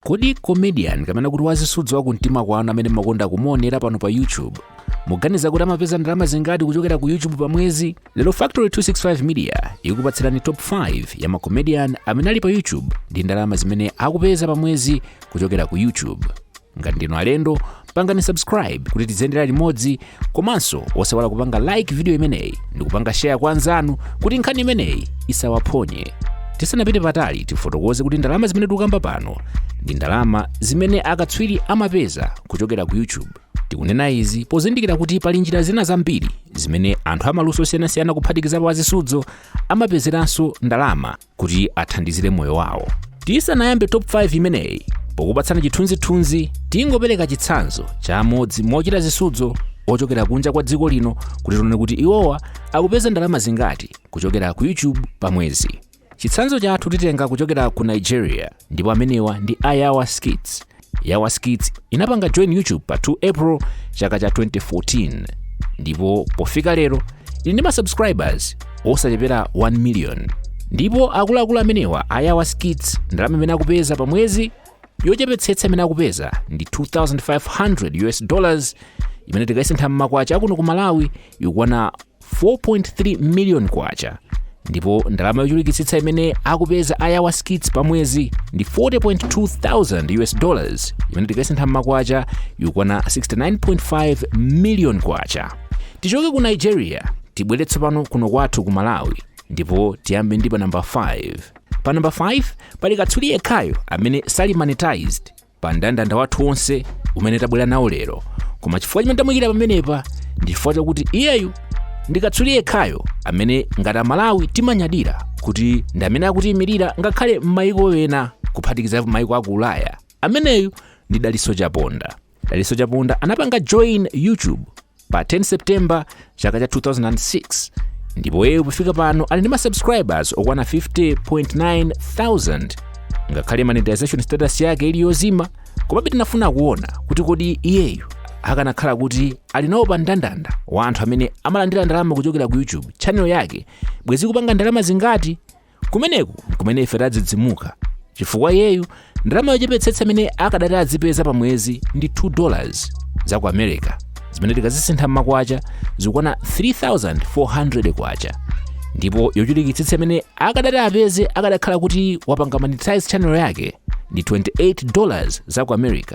kodi comedian kapena kuti wazisudzo wa kumtima kwanu amene mumakonda kumuonera pano pa youtube muganiza kuti amapeza ndalama zingati kuchokera ku youtube pa mwezi lero factory 265 media ikupatsirani top 5 ya macomedian amene ali pa youtube ndi ndalama zimene akupeza pa mwezi kuchokera ku youtube ngati ndinu alendo pangani subscribe kuti tiziyendera limodzi komanso osaiwala kupanga like video imeneyi ndi kupanga share kwa anzanu kuti nkhani imeneyi isawaphonye tisanapite patali tifotokoze kuti ndalama zimene tikukamba pano ndi ndalama zimene akatswiri amapeza kuchokera ku youtube tikunena izi pozindikira kuti pali njira zina zambiri zimene anthu amaluso osiyanasiyana kuphatikizapo azisudzo amapezeranso ndalama kuti athandizire moyo wawo. Tisanayambe top 5 imeneyi, pokupatsana chithunzithunzi tingopereka chitsanzo cha amodzi mochita zisudzo ochokera kunja kwa dziko lino kuti tione kuti iwowa akupeza ndalama zingati kuchokera ku YouTube pa mwezi. Chitsanzo chathu titenga kuchokera ku Nigeria. ndipo amenewa ndi a yawa skits yawa skits inapanga join youtube pa 2 april chaka cha 2014 ndipo pofika lero ili ndi ma subscribers osachepera 1 million ndipo akuluakulu amenewa a yawa skits ndalama imene akupeza pa mwezi yochepetsetsa imene akupeza ndi 2500 us dollars imene tikayisintha mmakwacha akuno ku malawi ikukwana 4.3 million kwacha ndipo ndalama yochulukitsitsa imene akupeza ayawa skits pa mwezi ndi 40.2 thousand us dollars imene tikayisintha mmakwacha ikukwana 69.5 million kwacha tichoke ku nigeria tibwere tsopano kuno kwathu ku malawi ndipo tiyambe ndi pa namba 5 pa namba 5 pali katswiri yekhayo amene sali monetized pa mndandanda wathu wonse umene tabwera nawo lero koma chifukwa chimene tamuyikira pamenepa ndi chifukwa chakuti iyeyu ndi katswiri yekhayo amene ngati amalawi timanyadira kuti ndi amene akutiyimirira ngakhale m'mayiko ena kuphatikiza mayiko aku ulaya ameneyu ndi daliso chaponda daliso chaponda anapanga join youtube pa 10 september chaka cha 2006 ndipo iyeyo pofika pano ali ndi ma subscribers okwana 50.9 thousand ngakhale monetization status yake ili yozima komabe tinafuna kuona kuti kodi iyeyu akanakhala kuti ali nawo pa mndandanda wa anthu amene amalandira ndalama kuchokera ku youtube channel yake bwenzi ikupanga ndalama zingati kumeneku nkumene ife tadzidzimuka chifukwa iyeyu ndalama yochepetsetsa imene akadati azipeza pa mwezi ndi 2 dollars za ku america zimene tikazisintha m'makwacha zikukwana 3400 kwacha ndipo yochulukitsitsa imene akadati apeze akadakhala kuti wapanga monetize channel yake ndi 28 dollars za ku america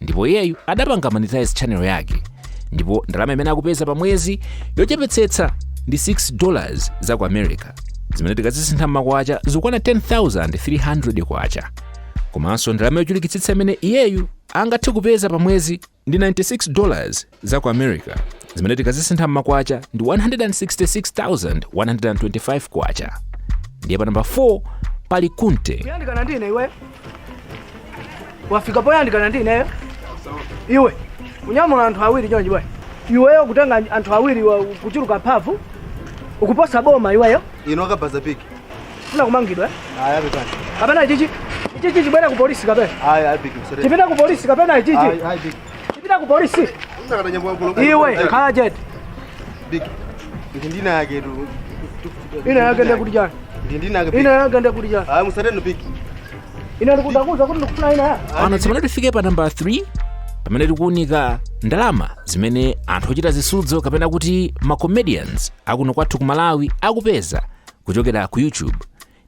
ndipo iyeyu adapanga monetize channel yake ndipo ndalama imene akupeza pa mwezi yochepetsetsa ndi 6 dollars za ku america zimene tikazisintha m'makwacha zikukwana 10300 kwacha komanso ndalama yochulukitsitsa imene iyeyu angathe kupeza pa mwezi ndi 96 dollars za ku america zimene tikazisintha m'makwacha ndi 166125 kwacha ndiye pa namba 4 pali kunte kuyandikana ndine iwe wafika poyandikana ndineyo iwe unyamula anthu awiri chonchi bwana iweyo kutenga anthu awiri wa- kuchuluka mphamvu ukuposa boma iweyo ino akabaza piki ufuna kumangidwa eh? aya pepani kapena ichichi ichichi tibwera ku polisi kapena aya ayi piki msore tipita ku polisi kapena ichichi Ayi, ayi, big. Tipita ku polisi. Iwe khala chete. Ndi dzina lake tu. Ina yake ndiye kuti chani? Ndi dzina lake. Dzina lake ndiye kuti chani? Ah, musateni big. Ina ndinakuuza kuti ndikufuna dzina lake. pano tsopano tifike pa nambala 3 pamene tikuunika ndalama zimene anthu ochita zisudzo kapena kuti ma comedians akuno kwathu ku malawi akupeza kuchokera ku youtube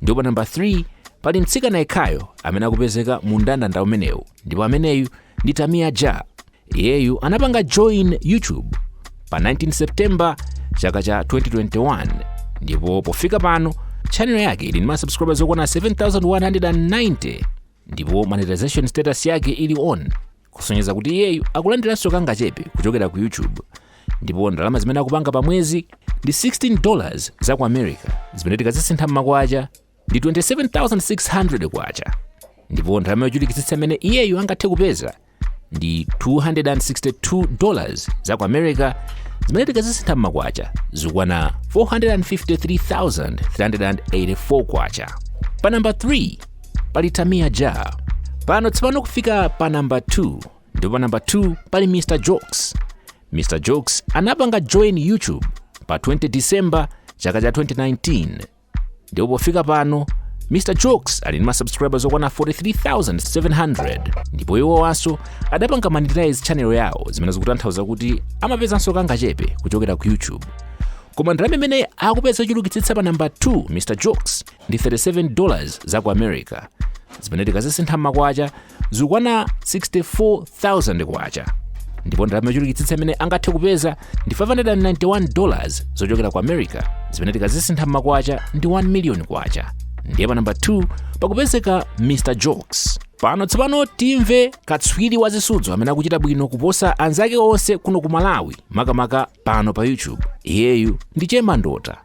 ndipo pa namba 3 pali mtsikana yekhayo amene akupezeka mu mndandanda umenewu ndipo ameneyu ndi tamia ja iyeyu anapanga join youtube pa 19 september chaka cha 2021 ndipo pofika pano chanelo yake ili ndi masubscribers okwana 7190 ndipo monetization status yake ili on kusonyeza kuti iyeyu akulandiranso kangachepe kuchokera ku youtube ndipo ndalama zimene akupanga pa mwezi ndi 16 dollars za ku america zimene tikazisintha m'makwacha ndi 27600 kwacha ndipo ndalama yochulukitsitsa imene iyeyu angathe kupeza ndi 262 dollars za ku america zimene tikazisintha m'makwacha zikukwana 453384 kwacha pa namba 3 pali tamia ja pano tsopano kufika pa namba 2 ndipo pa namba 2 pali mr jokes mr jokes anapanga join youtube pa 20 december chaka cha 2019 ndipo pofika pano mr jokes ali ndi masubscribers okwana 43700 ndipo iwowanso adapanga monetize channel yawo zimene zikutanthauza kuti amapezanso kangachepe kuchokera ku youtube koma ndalama imene akupeza yochulukitsitsa pa namba 2 mr jokes ndi 37 dollars za ku america zimene tikazisintha m'makwacha zikukwana 64000 kwacha ndipo ndalama yochulukitsitsa imene angathe kupeza ndi 591 dollars zochokera ku america zimene tikazisintha m'makwacha ndi 1 million kwacha ndiye pa namba 2 pakupezeka mr jokes pano tsopano timve katswiri wa zisudzo amene akuchita bwino kuposa anzake onse kuno ku malawi makamaka pano pa youtube iyeyu ndi chemandota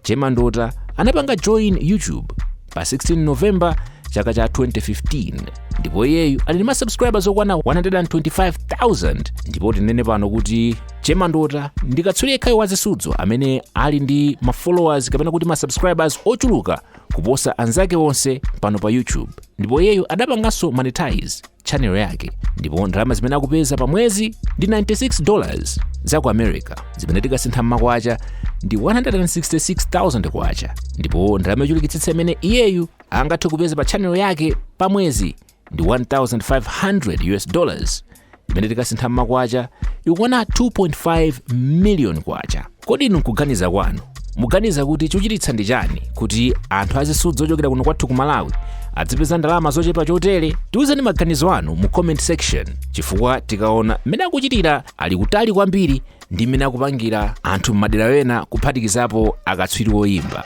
chemandota anapanga join youtube pa 16 november chaka cha 2015 ndipo iyeyu ali ndi masubscribers okwana 125000 ndipo tinene pano kuti chemandota ndi katswiri yekhayo wa zisudzo amene ali ndi mafollowers kapena kuti masubscribers ochuluka kuposa anzake onse pano pa youtube ndipo iyeyu adapanganso monetize channel yake ndipo ndalama zimene akupeza pa mwezi ndi 96 dollars za ku america zimene tikasintha mmakwacha ndi 166000 kwacha ndipo ndalama yochulukitsitsa imene iyeyu angathe kupeza pa channel yake pa mwezi ndi 1500 us dollars imene tikasintha mmakwacha ikukwana 2.5 million kwacha Kodi inu nkuganiza kwanu muganiza kuti chochititsa ndi chani kuti anthu azisudzo ochokera kuno kwathu ku malawi adzipeza ndalama zochepa chotere tiwuzeni maganizo anu mu comment section chifukwa tikaona mmene akuchitira ali kutali kwambiri ndi mmene akupangira anthu m'madera ena kuphatikizapo akatswiri oyimba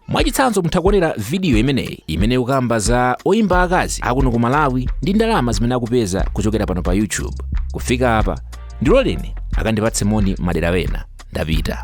mwachitsanzo mutha kuonera vidiyo imeneyi imene ikukamba za oyimba akazi akuno ku malawi ndi ndalama zimene akupeza kuchokera pano pa youtube kufika apa ndiloleni akandipatse moni madera wena ndapita